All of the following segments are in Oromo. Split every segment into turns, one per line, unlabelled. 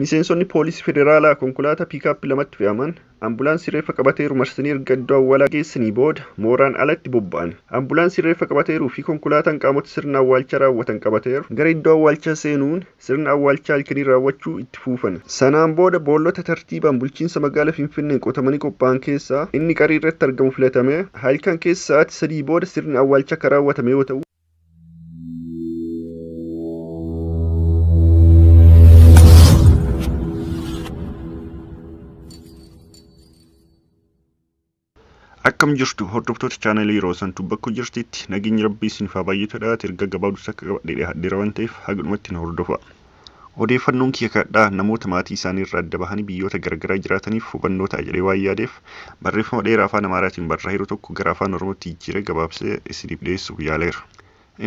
Miseensonni poolisii federaalaa konkolaataa piikaappii lamatti fe'aman ambulaansii reeffa qabateeru marsanii erga iddoo awwaalaa geessanii booda mooraan alatti bobba'an. Ambulaansii reeffa qabateeruu fi konkolaataan qaamota sirna awwaalchaa raawwatan qabateeru gara iddoo awwaalchaa seenuun sirna awwaalchaa halkanii raawwachuu itti fuufan. Sanaan booda boollota tartiibaan bulchiinsa magaala Finfinneen qotamanii qophaa'an keessaa inni qarii irratti argamu filatamee halkan keessa sa'aatii 3:00 booda sirni awwaalchaa kan raawwatame yoo ta'u, Akkam jirtu hordoftoota chaanalii yeroo santu bakka jirtitti nageenyi rabbii isiniif haa baay'atu dhaati erga gabaabduu takka qabadhee dhiyaadheera waan ta'eef haga dhumatti na hordofaa. Odeeffannoon kiyya kadhadhaa namoota maatii isaanii irraa adda bahanii biyyoota garagaraa jiraataniif hubannoo ta'a jedhee waan yaadeef, barreeffama dheeraa Afaan Amaaraatiin barraa'eeru tokko gara Afaan Oromootti jijjiiree gabaabsee isiniif dhiyeessuuf yaaleera.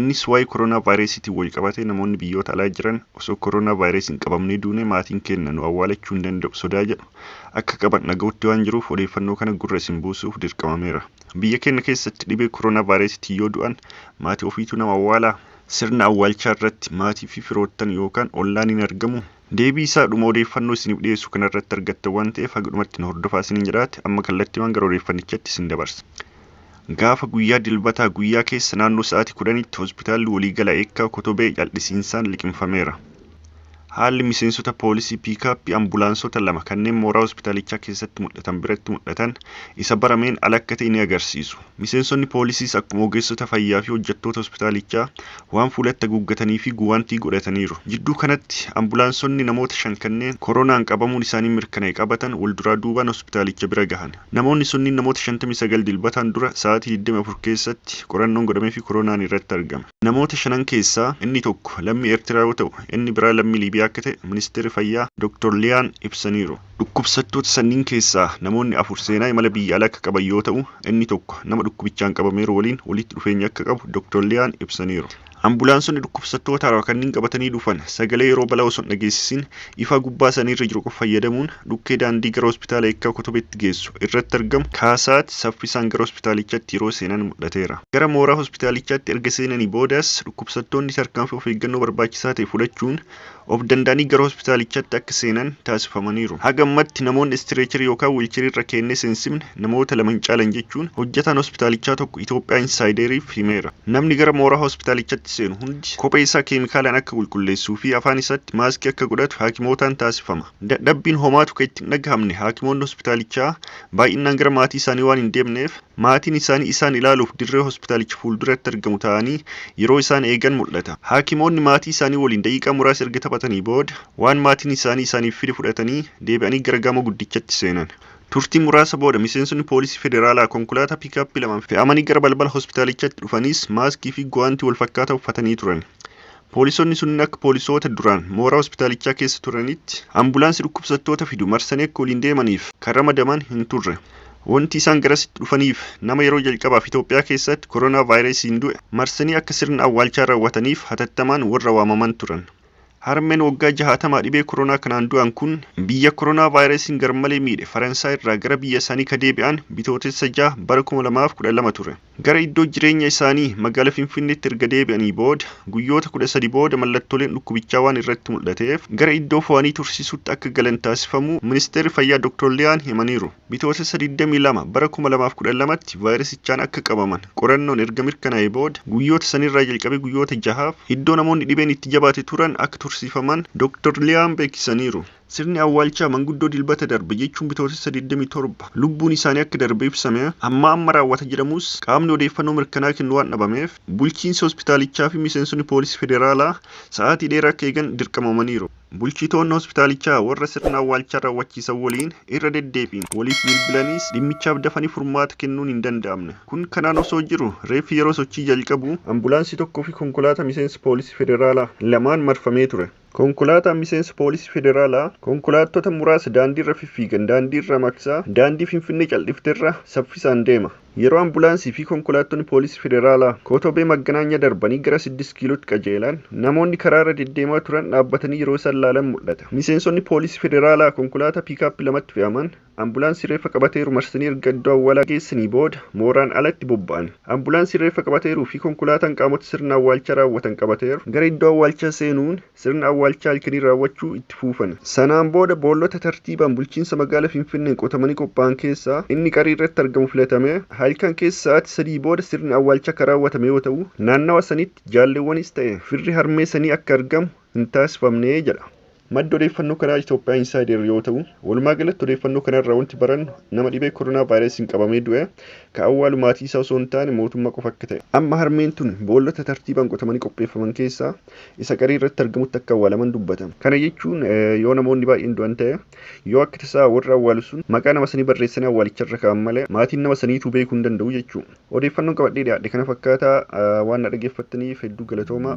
Innis waa'ee Koroonaa Vaayirasiitiin walqabatee namoonni biyyoota alaa jiran osoo Koroonaa Vaayirasiin qabamnee duunee maatiin keenna nu awwaalachuu hin danda'u sodaa jedhu akka qaban dhaga'utti waan jiruuf odeeffannoo kana gurra isin buusuuf dirqamameera. Biyya keenna keessatti dhibee Koroonaa Vaayirasiitiin yoo du'an maatii ofiitu nama awwaalaa? Sirna awwaalchaa irratti maatii fi firoottan yookaan ollaan hin argamu? Deebii isaa dhuma odeeffannoo isiniif dhiyeessu kana irratti argattan waan ta'eef haga dhumatti nu hordofaa isiniin jedhaati amma kallattimaan gara odeeffannichatti isin dabarsa. Gaafa guyyaa Dilbataa guyyaa keessa naannoo sa'aatii 10tti Hospitaalli Waliigalaa Eekkaa Kotobee cal'isiinsaan liqimfameera. Haalli miseensota poolisii piikaappii ambulaansota lama kanneen mooraa hospitaalichaa keessatti mul'atan biratti mul'atan isa barameen ala akka ta'e ni agarsiisu. Miseensonni poolisiis akkuma ogeessota fayyaa fi hojjettoota hospitaalichaa waan fuulatti haguuggatanii fi guwaantii godhataniiru. Jidduu kanatti ambulaansonni namoota shan kanneen koronaan qabamuun isaanii mirkanaa'e qabatan wal duraa duubaan hospitaalicha bira gahan. Namoonni sunniin namoota 59 Dilbataan dura sa'aatii 24 keessatti qorannoon godhameefii koronaan irratti argame. Namoota shanan keessaa inni tokko lammii Ertiraa yoo ta'u, inni biraa lammii Liibiyaa akka ta'e Ministeerri Fayyaa Doktar Liyaan ibsaniiru. Dhukkubsattoota sanniin keessaa namoonni afur seenaa imala biyya alaa akka qaban yoo ta'u, inni tokko nama dhukkubichaan qabameeru waliin walitti dhufeenya akka qabu Doktar Liyaan ibsaniiru. Ambulaansonni dhukkubsattoota haarawaa kanniin qabatanii dhufan sagalee yeroo balaa osoo hin dhageessisin Ifaa gubbaa isaanii irra jiru qofa fayyadamuun dhukkee daandii gara Hospitaala Eekkaa Kotobeetti geessu irratti argamu kaasaati saffisaan gara hospitaalichaatti yeroo seenan mul'ateera. Gara mooraa hospitaalichaatti erga seenanii boodas dhukkubsattoonni tarkaanfii of eeggannoo barbaachisaa ta'e fudhachuun of danda'anii gara hospitaalichaatti akka seenan taasifamaniiru. Haga ammatti namoonni istireecharii yookaan wiilcheriirra keennee seensifne Namoota lama hin caalan jechuun hojjetaan hospitaalichaa tokko Itoophiyaa Insaayideriif himeera. Namni gara mooraa hospitaalichatti seenu hundi kophee isaa keemikaalaan akka qulqulleessuu fi afaan isaatti maaskii akka godhatu haakimootaan taasifama. Dadhabbiin homaa tuka itti hin dhagahamne haakimoonni hospitaalichaa baay'innaan gara maatii isaanii waan hin deemneef maatiin isaanii isaan ilaaluuf dirree hospitaalicha fuulduratti argamu taa'anii yeroo isaan eegan mul'ata. Haakimoonni maatii isaanii waliin daqiiqaa muraasa erga taphatanii booda waan maatiin isaanii isaaniif fide fudhatanii deebi'anii gara gamoo guddichatti seenan. Turtii muraasa booda miseensonni poolisii federaalaa konkolaataa piikaappii lamaan fe'amanii gara balbala hospitaalichaatti dhufaniis maaskii fi guwaantii walfakkaataa uffatanii turan. Poolisonni sunniin akka poolisoota duraan mooraa hospitaalichaa keessa turaniitti ambulaansii dhukkubsattoota fidu marsanii akka waliin deemaniif kan ramadaman hin turre. Wanti isaan garasitti dhufaniif nama yeroo jalqabaaf Itoophiyaa keessaatti koronaavaayirasiin du'e marsanii akka sirna awwaalchaa raawwataniif hatattamaan warra waamaman turan. Harmeen waggaa jahaatamaa dhibee koronaa kanaan du'an kun biyya koronaa vaayirasiin garmalee miidhe Faransaay irraa gara biyya isaanii ka deebi'an Bitootessa 6 bara 2012 ture. Gara iddoo jireenya isaanii magaala Finfinneetti erga deebi'anii booda guyyoota 13 booda mallattooleen dhukkubichaa waan irratti mul'ateef gara iddoo fo'anii tursiisuutti akka galan taasifamuu Ministeerri Fayyaa Dr. Liyaan himaniiru. Bitootessa 22 bara 2012tti vaayirasichaan akka qabaman qorannoon erga mirkanaa'ee booda guyyoota sanirraa jalqabee guyyoota jahaaf iddoo namoonni dhibeen itti jabaate turan akka tursiifaman Dr Liyaan beeksisaniiru. Sirni awwaalchaa manguddoo Dilbata darbe jechuun Bitootessa 27 lubbuun isaanii akka darbe ibsame ammaa amma raawwata jedhamus qaamni odeeffannoo mirkanaa'aa kennu waan dhabameef bulchiinsi hospitaalichaafi miseensonni poolisii federaalaa sa'aatii dheeraa akka eegan dirqamamaniiru. Bulchitoonni hospitaalichaa warra sirna awwaalchaa raawwachiisan waliin irra deddeebiin waliif bilbilaniis dhimmichaaf dafanii furmaata kennuun hin danda'amne. Kun kanaan osoo jiru reeffi yeroo sochii jalqabu ambulaansii tokkoo fi konkolaataa miseensa poolisii federaalaa lamaan marfamee ture. Konkolaataan miseensa poolisii federaalaa konkolaattota muraasa daandiirra fiffiigan daandiirraa maqsaa daandii Finfinnee caldhifterra saffisaan deema. Yeroo ambulaansii fi konkolaattonni poolisii federaalaa Kootobee Magganaanya darbanii gara Siddist Kiilootti qajeelan, namoonni karaa irra deddeemaa turan dhaabbatanii yeroo isaan laalan mul'ata. Miseensonni poolisii federaalaa konkolaataa piikaappi lamatti fe'aman, ambulaansii reeffa qabateeru marsanii erga iddoo awwaalaa geessanii booda mooraan ala itti bobba'an. Ambulaansiin reeffa qabateeruu fi konkolaataan qaamota sirna awwaalchaa raawwatan qabateeru gara iddoo awwaalchaa seenuun, Sirna awwaalchaa halkanii raawwachuu itti fuufan. Sanaan booda boollota tartiibaan bulchiinsa magaala Finfinneen qotamanii qophaa'an keessaa inni qarii irratti argamu filatamee halkan keessa sa'aati sadii booda sirni awwaalchaa ka raawwatame yoo ta'u, naannawa sanitti jaalleewwanis ta'e firri harmee sanii akka argamu hin taasifamne jedha. Maddi odeeffannoo kanaa Ethiopia Insider yoo ta'u, walumaa galatti odeeffannoo kana irraa wanti barannu nama dhibee koronaa vaayirasiin qabamee du'e ka awwaalu maatii isaa osoo hin taane mootummaa qofa akka ta'e. Amma harmeen tun boollota tartiibaan qotamanii qopheeffaman keessaa isa qarii irratti argamutti akka awwaalaman dubbata. Kana jechuun yoo namoonni baay'een du'an ta'e, yoo akka tasaa warri awwaalu sun maqaa nama sanii barreessanii awwaalicha irra kaa'an malee maatiin nama saniituu beekuu hin danda'u jechuu. Odeeffannoon qabadhee dhiyaadhe kana fakkaata. Waan na dhageeffattaniif hedduu galatoomaa.